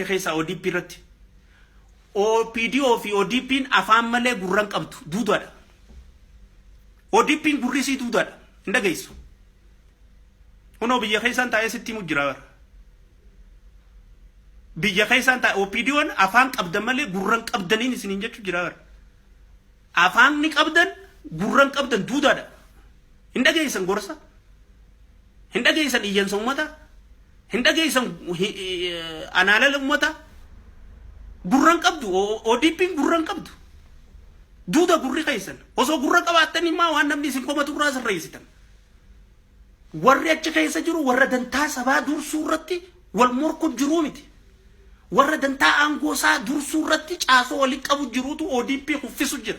keessaa ODP irratti. OPDO fi ODPn afaan malee gurra hin qabdu. Duudaadha. ODPn gurri isii duudaadha. Hin dhageessu. Kunoo biyya keessaan taa'ee sitti himu jira bara. Biyya keessaan taa'e OPDOn afaan qabdan malee gurra hin qabdaniin isiniin jechuu jira bara. Afaan ni qabdan gurran qabdan duudaadha. Hin dhageessan gorsa. Hin dhageessan iyyansa ummata. Hin dhageessan anaalala ummata. Gurran qabdu ODPn gurran qabdu. Duuda gurri keessan osoo gurra qabaattan immaa waan namni isin komatu irraa sirreessitan. Warri achi keessa jiru warra dantaa sabaa dursuu irratti wal morku jiruu miti. Warra dantaa aangoo isaa dursuu irratti caasoo walitti qabu jirutu ODP kuffisu jira.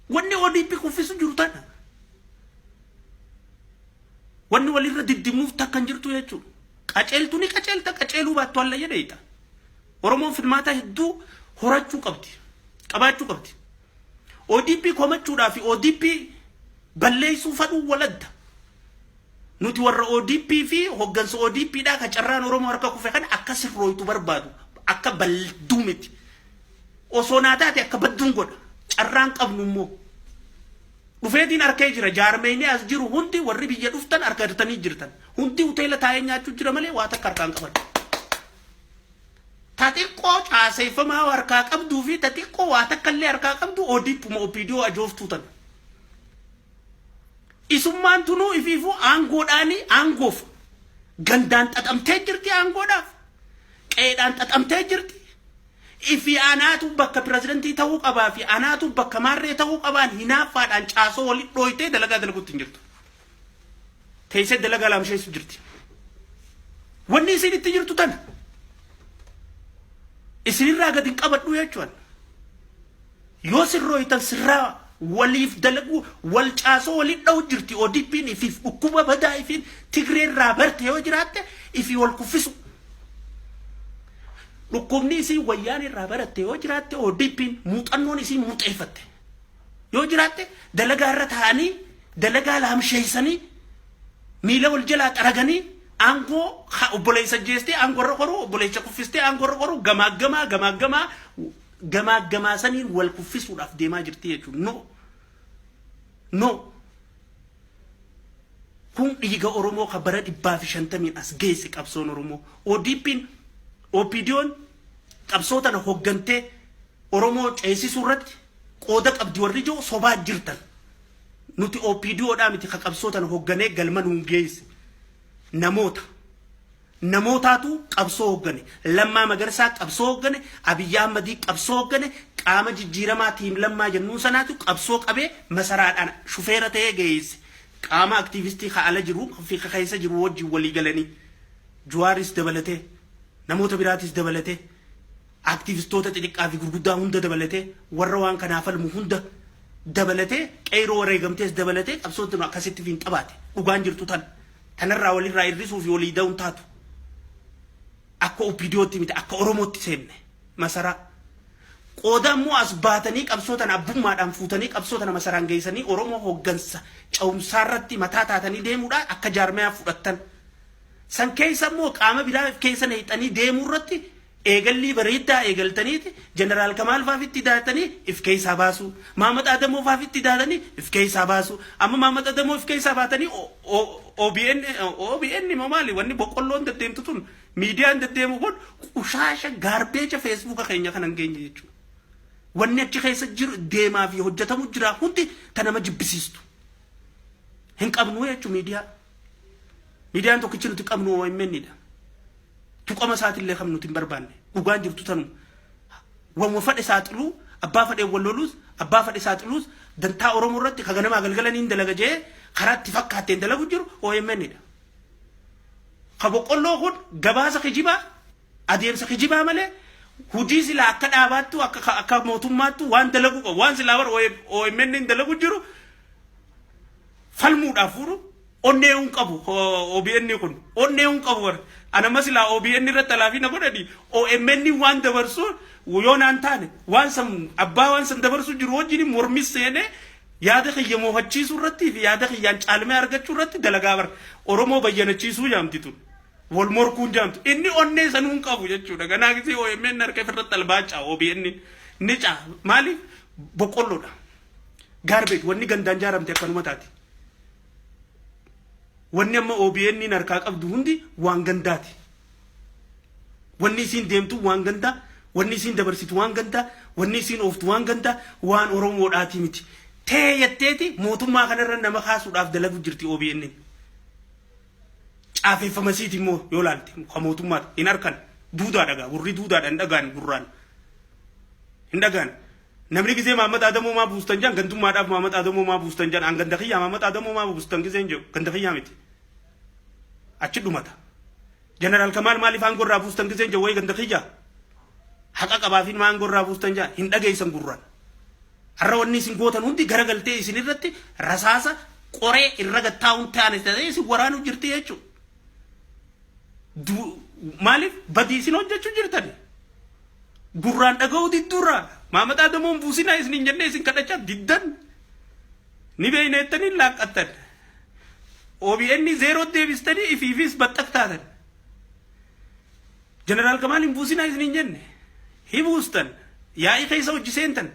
Wanni ODP kuffisu jiru tana. Wanni walirra diddimuuf takka hin jirtu jechuudha. Qaceeltu ni qaceelta, qaceeluu baattu alla jedheeta. Oromoon filmaataa hedduu horachuu qabdi, qabaachuu qabdi. ODP komachuudhaa fi ODP balleessuu fadhuu wal adda. Nuti warra ODP fi hoggansa ODP dhaa ka carraan Oromoo harka kufe kana akka sirrooytu barbaadu akka balduu miti. Osoo naa taate akka badduun godha. Carraan qabnu immoo. Dhufeetiin harkee jira jaarmeeyni as jiru hundi warri biyya dhuftan harka hirtanii jirtan. Hundi hoteela taa'ee nyaachuu jira malee waa takka harkaan qaban. Ta xiqqoo caaseeffamaa harkaa qabduu fi ta xiqqoo waa takka illee harkaa qabdu ODPuma OPDO ajooftuu tana. Isummaan tunuu ifiifuu aangoodhaanii aangoof gandaan xaxamtee jirti aangoodhaaf qeedhaan xaxamtee jirti. Ifi anaatu bakka pirezidantii ta'uu qabaa fi anaatu bakka maarree ta'uu qabaan hinaaffaadhaan caasoo walitti dhooytee dalagaa dalaguutti hin jirtu. teessee dalagaa laamsheessu jirti. Wanni isin itti jirtu tana. Isinirraa gadi hin qabadhu jechuudha. Yoo sirrooytan sirraa waliif dalaguu wal caasoo waliin dha'u jirti ODP'n ifiif dhukkuba badaa ifiin Tigreerraa barte yoo jiraatte ifii wal kuffisu. Dhukkubni isii wayyaan irraa baratte yoo jiraatte ODP'n muuxannoon isii muuxeeffatte. yoo jiraatte dalagaa irra taa'anii dalagaa laamsheessanii miila wal jalaa xaraganii aangoo ha- obboleessa jeestee aangoo irra koruu obboleessa kuffistee aangoo irra koruu gamaaggamaa gamaaggamaa gamaaggamaa saniin wal kuffisuudhaaf deemaa jirti jechuudha. No. No. kun dhiiga Oromoo kan bara dhibbaa fi shantamiin as geesse qabsoon Oromoo. ODP'n, OPDO'n, Qabsoo tana hoggantee Oromoo ceesisuu irratti qooda qabdi warri jiru sobaa jirtan. Nuti OPDO dhaa miti ka qabsoo tana hogganee galma nuun geesse. Namoota. Namootaatu qabsoo hoggane. Lammaa Magarsaa qabsoo hoggane. Abiyyi Ahmadii qabsoo hoggane. Qaama jijjiiramaa tiim lammaa jennuun sanaatu qabsoo qabee masaraadhaan shufeera ta'ee geesse. Qaama aktiivistii ka ala jiru fi ka keessa jiru wajjin walii galanii. Juwaaris dabalatee, namoota biraatis dabalatee, activistoota xixiqqaa fi gurguddaa hunda dabalatee, warra waan kanaa falmu hunda dabalatee, qeeyroo wareegamtees dabalatee qabsoon tun akkasitti fiinxabaate. Dhugaan jirtu tana. Tanarraa walirraa irrisuu fi walii da'uun taatu. Akka OPDOtti miti, akka Oromootti seenne. Masaraa. Qooda ammoo as baatanii qabsoo tana abbummaadhaan fuutanii qabsoo tana masaraan geeysanii Oromoo hooggansa cehumsaarratti mataa taatanii deemuudha akka jaarmayaa fudhattan. San keessa immoo qaama biraa if keessa nayxanii deemuu irratti eegallii bareeddaa eegaltaniiti Jeneraal Kamaal faaf itti daatanii if keessaa baasuu. Maamad Adamoo faaf itti daatanii if keessaa baasuu. Amma Maamad Adamoo if keessaa baatanii OBN OBN moo maali wanni boqqolloon deddeemtu tun miidiyaan deddeemu kun qushaasha gaarbeecha feesbuuka keenya kana hin geenye jechuudha. Wanni achi keessa jiru deemaa fi hojjetamu jira hundi ta nama jibbisiistu. Hin qabnu jechuun miidiyaa. Miidiyaan tokkichi nuti qabnu OMN dha. Tuqama isaatillee kan nuti hin barbaanne. Dhugaan jirtu tanuma. Wanwa fadhe saaxiluu, abbaa fadhe wal loluus, abbaa fadhe saaxiluus dantaa Oromoo irratti ka ganamaa galgala niin dalaga jee karaatti fakkaatteen dalagu jiru OMN dha. Ka boqqolloo kun gabaasa kijibaa, adeemsa kijibaa malee hujii silaa akka dhaabaattuu akka ka- akka mootummaattuu waan dalagu qabu waan silaa bara OMN dalagu jiru falmuudhaaf fuudhu onnee hin qabu OBN kun onnee hin qabu bara anama silaa OBN irratti alaafii na godhani OMN waan dabarsu yoo naan taane waan san abbaa waan san dabarsu jiru wajjin mormis seenee yaada kiyya moohachiisuu irratti fi yaada kiyyaan caalmee argachuu irratti dalagaa bara Oromoo bayyanachiisuu jaamti tun wal morkuun jaamtu inni onnee san hin qabu jechuudha ganaa gisee OMN harka irratti albaacha OBN ni caa maaliif boqqolloodha. Garbage wanni gandaan jaaramte akkanuma taati. Wanni amma OBN niin harkaa qabdu hundi waan gandaati. Wanni isiin deemtu waan gandaa, wanni isiin dabarsitu waan gandaa, wanni isiin ooftu waan gandaa, waan Oromoodhaatii miti. Tee jetteeti mootummaa kanarra nama kaasuudhaaf dalagu jirti OBN. niin. Caafeeffama isiiti immoo yoo laalte kan mootummaati hin harkan duudaa dhagaa warri duudaadha hin dhagaan gurraan. Hin dhagaan Namni gizee Mahammad Adamoo maa buustan jedhan gandummaadhaaf Mahammad Adamoo maa buustan jedhan an ganda kiyyaa Mahammad Adamoo maa buustan gizeen jedhu ganda kiyyaa miti. Achi dhumata. Jeneraal Kamaal maaliif aangoo irraa buustan gizeen jedhu wayii ganda kiyyaa. Haqa qabaafiin maa aangoo irraa buustan jedhan hin dhageessan gurraan. Har'a wanni isin gootan hundi garagaltee isin irratti rasaasa qoree irra gattaa'uun ta'an ta'ee isin waraanuu jirti jechuudha. Maaliif badii isin hojjechuu jirtani? Gurraan dhaga'uu didduurraa Maamad Adamoon buusinaa isin hin jennee isin kadhachaa diddan ni beeyna jettanii laaqqattan. OBN zeeroo deebistanii ifiifis baxxaq taatan. Jeneraal Kamaal hin buusinaa isiniin jenne hi buustan yaa'ii keessa hojji seentan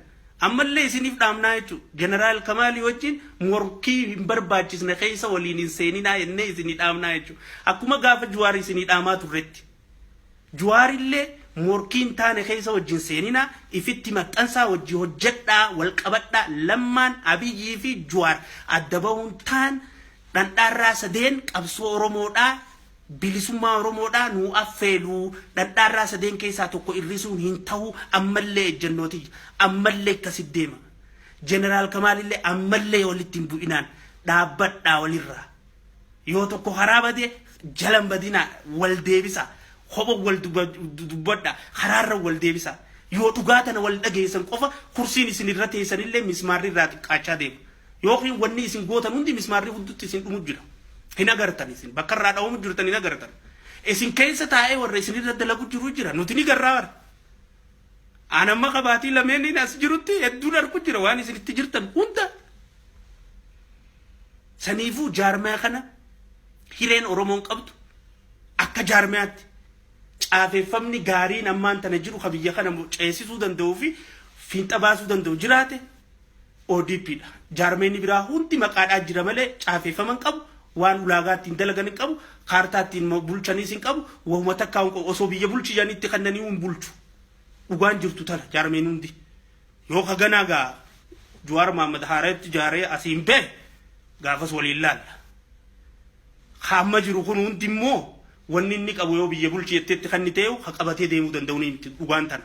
ammallee isiniif dhaamnaa jechuu Jeneraal Kamaalii wajjin morkii hin barbaachisne keessa waliin hin seeninaa jennee isinii dhaamnaa jechuu akkuma gaafa Juwaar isinii dhaamaa turretti Juwaarillee morkii hin taane keessa wajjin seeninaa ifitti maxxansaa wajji hojjedhaa wal qabadhaa lammaan Abiyyii fi Juwaar adda bahuun taan dhandhaarraa sadeen qabsoo Oromoodhaa Bilisummaa Oromoodhaa nuu affeeluu, dhadhaarraa sadeen keessaa tokko irrisuun hin tahu, ammallee ejjennoo tiyya. Ammallee akkasitti deema. Jeneraal Kamaalillee ammallee walitti hin bu'inaan dhaabbadhaa walirraa. Yoo tokko karaa bade jala hin badinaa, wal deebisaa. Kopha wal dubbadhaa, karaarra wal deebisaa. Yoo dhugaa tana wal dhageessan qofa kursiin isin irra teessanillee mismaarri irraa xiqqaachaa deema. Yookiin wanni isin gootan hundi mismaarri huddutti isin dhumu jira. Hin agartan isin. Bakka irraa dhawamu jirtan hin agartan. Isin keessa taa'ee warra isin irra dalagu jiru jira. Nuti ni garraa bara. Aan amma qabaatii lameeniin as jirutti hedduun argu jira waan isin itti jirtan hunda. Saniifuu jaarmaya kana hireen Oromoon qabdu akka jaarmayaatti caafeeffamni gaariin ammaan tana jiru ka biyya kana ceesisuu danda'uu fi fiinxa baasuu danda'u jiraate ODP dha. Jaarmeyni biraa hundi maqaadhaa jira malee caafeeffama hin qabu, waan ulaagaa ittiin dalagan hin qabu, kaartaa ittiin bulchaniis hin qabu, wahuma takkaahuu hin qabu. Osoo biyya bulchi jedhanii itti kennaniihuu hin bulchu. Dhugaan jirtu tana jaarmeyni hundi. Yoo ka ganaa gaa Juwaar Mahaammad haarayatti ijaaree asiin bahe gaafas waliin laalla. Ka amma jiru kun hundi immoo wanni inni qabu yoo biyya bulchi jettee itti kenniteehu ka qabatee deemuu danda'u ni miti dhugaan tana.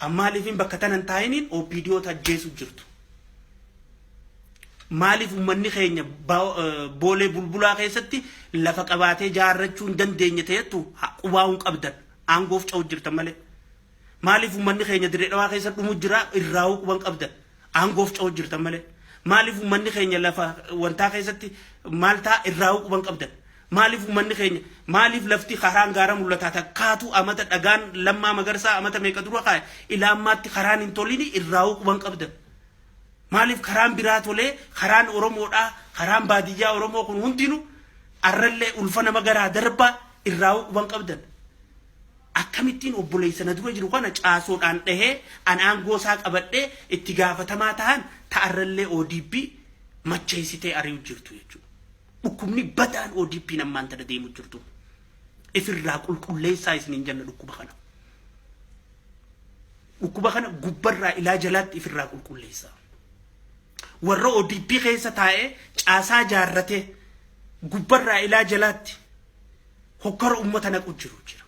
An maaliifin bakka tana hin taa'iniin OPDOta ajjeesu jirtu. Maaliif ummanni keenya boolee bulbulaa keessatti lafa qabaatee jaarrachuu hin dandeenye ta'ettu qubaa hin qabdan aangoof ca'u jirtan malee. Maaliif ummanni keenya dirree dhawaa keessa dhumu jira irraa'uu quban qabdan aangoof ca'u jirtan malee. Maaliif ummanni keenya lafa wantaa keessatti maal ta'a irraa'uu quban qabdan. Maaliif ummanni keenya, maaliif lafti karaan gaara mul'ataa takkaatu amata dhagaan Lammaa Magarsaa amata meeqa dura kaa'e ila ammaatti karaan hin tolini irraahuu quba hin qabdan? Maaliif karaan biraa tolee karaan Oromoodhaa karaan baadiyyaa Oromoo kun hundinu arrallee ulfa nama garaa darbaa irraahuu quba hin qabdan? Akkamittiin obboleessa na dura jiru kana caasoodhaan dhahee an aangoo isaa qabadhee itti gaafatamaa tahan ta arrallee ODP macheessitee ari'u jirtu jechuudha. Dhukkubni badaan ODPn ammaan tana deemu jirtu ifirraa qulqulleessaa isiniin jenna dhukkuba kana. Dhukkuba kana gubbarraa ilaa jalaatti ifirraa qulqulleessaa. Warra ODP keessa taa'ee caasaa jaarratee gubbarraa ilaa jalaatti hokkara uummata naqu jiru jira.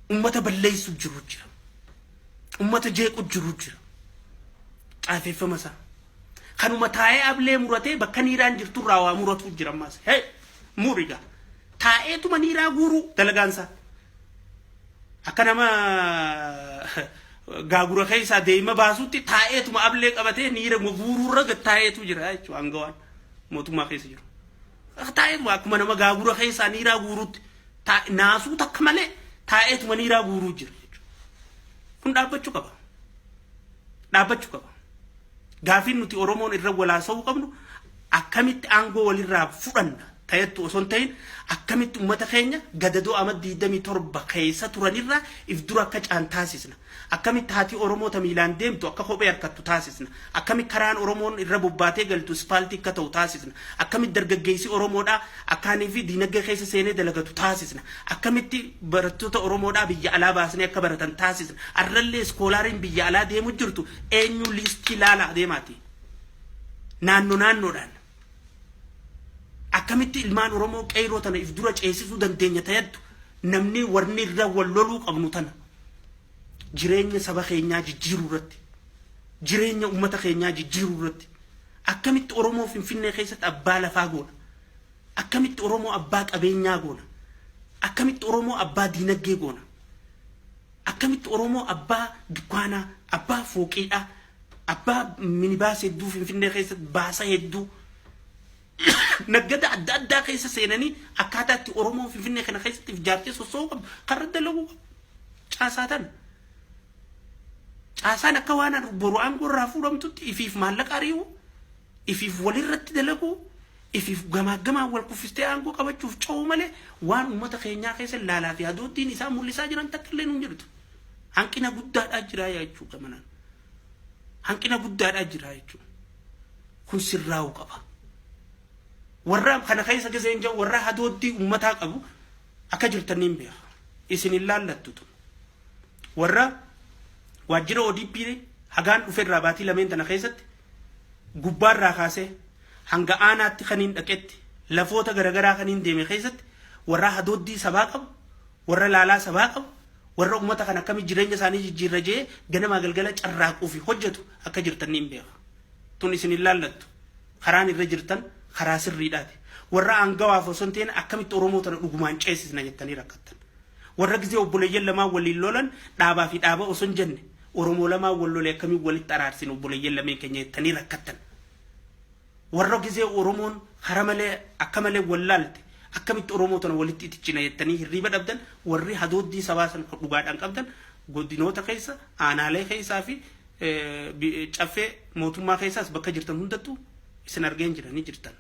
Ummata balleessu jiru jira. Ummata jeequ jiru jira. Caafeeffama isaa. Kanuma taa'ee ablee muratee bakka niiraan jirtu irraa waa muratuu jira ammaas. Hee muriga. Taa'eetuma niiraa guuruu dalagaan isaa. Akka nama gaagura keessaa deema baasutti taa'eetuma ablee qabatee niira guuruu irra gad taa'eetu jira jechuudha hangawaan mootummaa keessa jiru. Lafa taa'eetuma akkuma nama gaagura keessaa niiraa guuruutti taa'e naasuu takka malee taa'eetuma niiraa guuruu jira jechuudha. Kun dhaabbachuu qaba. Dhaabbachuu qaba. Gaafiin nuti Oromoon irra walaasa'uu qabnu akkamitti aangoo walirraa fudhanna ta'ettu osoo hin ta'in akkamitti uummata keenya gadadoo ama 27 keessa turanirraa if dura akka caan taasisna. Akkamitti haati Oromoo ta miilaan deemtu akka kophee harkattu taasisna? Akkamitti karaan Oromoon irra bobbaatee galtu ispaaltii akka ta'u taasisna? Akkamitti dargaggeessi Oromoodhaa akkaanii fi diinagdee keessa seenee dalagatu taasisna? Akkamitti barattoota Oromoodhaa biyya alaa baasnee akka baratan taasisna? Arrallee iskoolaariin biyya alaa deemu jirtu eenyuu liistii laalaa deemaatii naanno naannoodhaan. Akkamitti ilmaan Oromoo qeeyroo tana if dura ceesisuu dandeenya ta yaddu? Namni warni irra wal loluu qabnu tana. jireenya saba keenyaa jijjiiruu irratti jireenya ummata keenyaa jijjiiruu irratti akkamitti Oromoo Finfinnee keessatti abbaa lafaa goona akkamitti Oromoo abbaa qabeenyaa goona akkamitti Oromoo abbaa diinaggee goona akkamitti Oromoo abbaa dukkaanaa abbaa fooqiidhaa abbaa minibaas hedduu Finfinnee keessatti baasa hedduu naggada adda addaa keessa seenanii akkaataa itti Oromoo Finfinnee kana keessatti of ijaartee sossoo'uu qabdu karra dalaguu qabu. Caasaa tana. Caasaan akka waan boru aangoo irraa fuudhamtutti ifiif maallaqa ari'uu, ifiif walirratti dalaguu, ifiif gamaaggamaan wal kuffistee aangoo qabachuuf ce'uu malee waan uummata keenyaa keessa laalaa fi adooddiin isaa mul'isaa jiran takka illee hin jirtu. Hanqina guddaadhaa jiraa yaa jechuudha manaan. Hanqina guddaadhaa jiraa jechuudha. Kun sirraa'uu qaba. Warra kana keessa keessa hin jiru warra hadooddii ummataa qabu akka jirtan niin beeka. Isin hin laallattu tun. Warra waajjira ODP hagaan dhufe irraa baatii lameen tana keessatti gubbaa irraa kaasee hanga aanaatti kaniin dhaqetti lafoota garagaraa kaniin deeme keessatti warra hadooddii sabaa qabu Warra laalaa sabaa qabu, warra ummata kana akkamitti jireenya isaanii jijjiirra jedhee ganamaa galgala carraaquu fi hojjetu akka jirtan niin beeka. Tun isin hin laallattu. Karaan irra jirtan karaa sirriidhaati. Warra aangawaaf osoo hin ta'in akkamitti Oromoo tana dhugumaan ceesisna jettanii rakkattan. Warra gizee obboleeyyan lamaan waliin lolan dhaabaa fi dhaaba osoo hin jenne Oromoo lamaan wal lole akkamiin walitti araarsina obboleeyyan lameen keenya jettanii rakkattan. Warra gizee Oromoon hara malee akka malee wal laalte akkamitti Oromoo tana walitti itichina jettanii hirriiba dhabdan warri hadooddii sabaa san ka dhugaadhaan qabdan godinoota keessa, aanaalee keessaa fi caffee mootummaa keessaas bakka jirtan hundattuu isin argeen jira ni jirtan.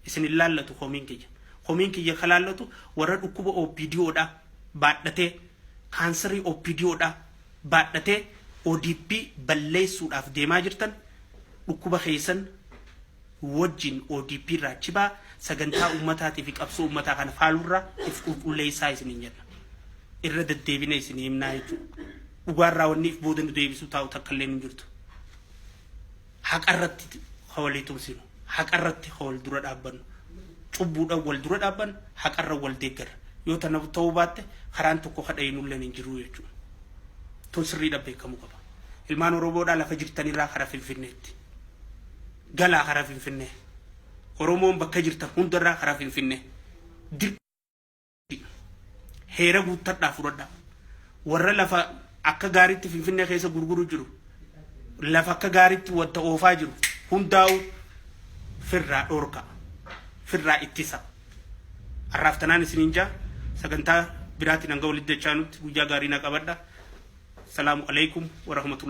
Isin hin laallatu komiin kiyya. Komiin kiyya ka laallatu warra dhukkuba OPDO dhaa baadhatee kaansarii OPDO dhaa baadhatee odp balleessuudhaaf deemaa jirtan dhukkuba keessan wojjin odp irraa chibaa sagantaa ummataatii fi qabsoo ummataa kana faaluu irraa if qulqulleessaa isiniin jenna. Irra deddeebine isinii himnaa jechuudha. Dhugaa irraa wanni if booda nu deebisuu taa'u takka illeen hin jirtu. Haqarratti ha walii tumsinu. Haqarratti ha wal dura dhaabbannu. Cubbuudhaan wal dura dhaabbanna, haqarra wal deeggarra. Yoo tana ta'uu baatte karaan tokko ka dhayinulleen hin jiru jechuudha. Tun sirriidhaan beekamuu qaba. Ilmaan Oromoodhaa lafa jirtanirraa kara Finfinneetti. Galaa kara Finfinnee. Oromoon bakka jirtan hundarraa kara Finfinnee. Dir. Heera guuttadhaa fudhadhaa. Warra lafa akka gaariitti Finfinnee keessa gurguru jiru. Lafa akka gaariitti wanta oofaa jiru. Hundaa'u firraa dhorka. Firraa ittisa. Har'aaf tanaan isiniin jaa sagantaa biraatiin hanga walitti dachaanutti guyyaa gaarii na qabadha. Salaamu alaikum wa rahmatullahi